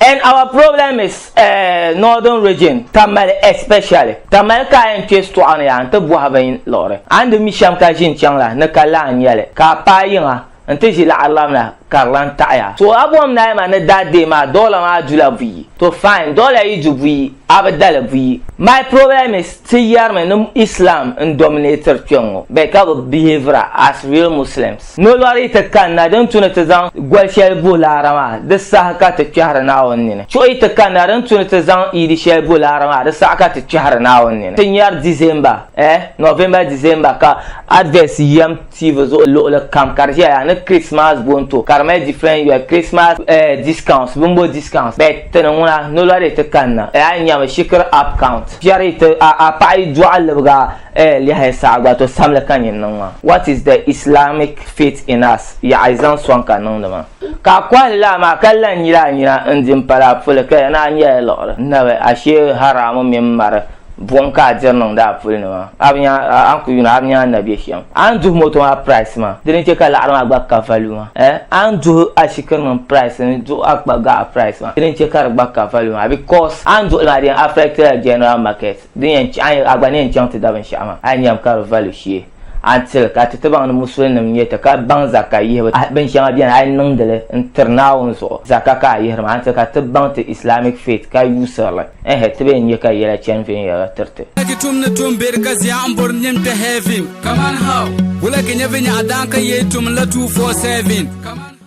And our problem is uh, northern region Tamale especially Tamale ka yɛn kpɛ sitɔɣu ni yaa n ti bɔhi bin liɣiri a ni di mi shɛm ka ʒi n chaŋ la ni ka la n nyɛli ka a paai yiŋa n ti ʒi laɣirilam la ka di lan taɣiya so a bɔm naai ma ni daa deei maa dɔla maa dula buyi to fine dɔla yi du buyi Abdala buyi. My problem is ti yarimi ni Islam n dominator kpe ŋɔ bɛ ka bi behavira as real Muslims. Nolɔri ti kanna din tu ni ti zaŋ goli shɛli bo laara maa di saha ka ti kpɛhiri Naawuni nini. Chuɣi ti kanna din tu ni ti zaŋ iidi shɛli bo laara maa di saɣa ka ti kpɛhiri Naawuni nini. Ti nyari December eh November December ka adverts yɛm TV zuɣu luɣili kam ka di ʒeya yaa ni Christmas bonto ka di mali different yoli Christmas eh discounts bimbo discounts bet ti ni ŋuna nolɔri di ti kanna eh a yi nyami shikiri app count piɛri yi ti a a paɣa yi dɔɣi libiga eh lɛhi saha gba to samli ka nyin niŋ maa what is the Islamic faith in us yaɣa yi zaŋ sɔŋ ka niŋdi maa ka a kɔhili laa maa ka la n nyili a nyina n di m pala a puli ka ya ni a nyɛla liɣiri nabi ashee haramu mini mari Buɣim ka a diri niŋdi a puli ni maa? A bi nya a ni ku yuuna a bi nya a ni na be shɛm? A ni duhi moto maa price maa di ni che ka laɣiri maa gba ka value maa eh? A ni duhi ashikiri nim price ni duhi a kpa gaɣa price maa di ni che ka di gba ka value maa because a ni duhi li maa di yɛn affect la general market din yɛn chɛ a gba ni yɛn chaŋ ti da binshɛɣu maa a yi nyam ka di value shee. a ni tili ka titibaŋ ni musulinim nyɛ ti ka baŋ zaka yihibu a binshɛŋa beni a yi niŋdi li n tiri Naawuni zuɣu zaka ka a yihiri maa a ni tili ka ti baŋ ti Islamic faith ka yuusiri li ɛɛh ti bee n nya ka yɛla chani viɛnyɛliŋga tiri ti. Wula ki tum ni tum be di ka zia n bori nyin kpe heaven? Kaman how? Wula ki nya viɛnyɛɣu daan ka yee tum n la two four seven? Kaman how?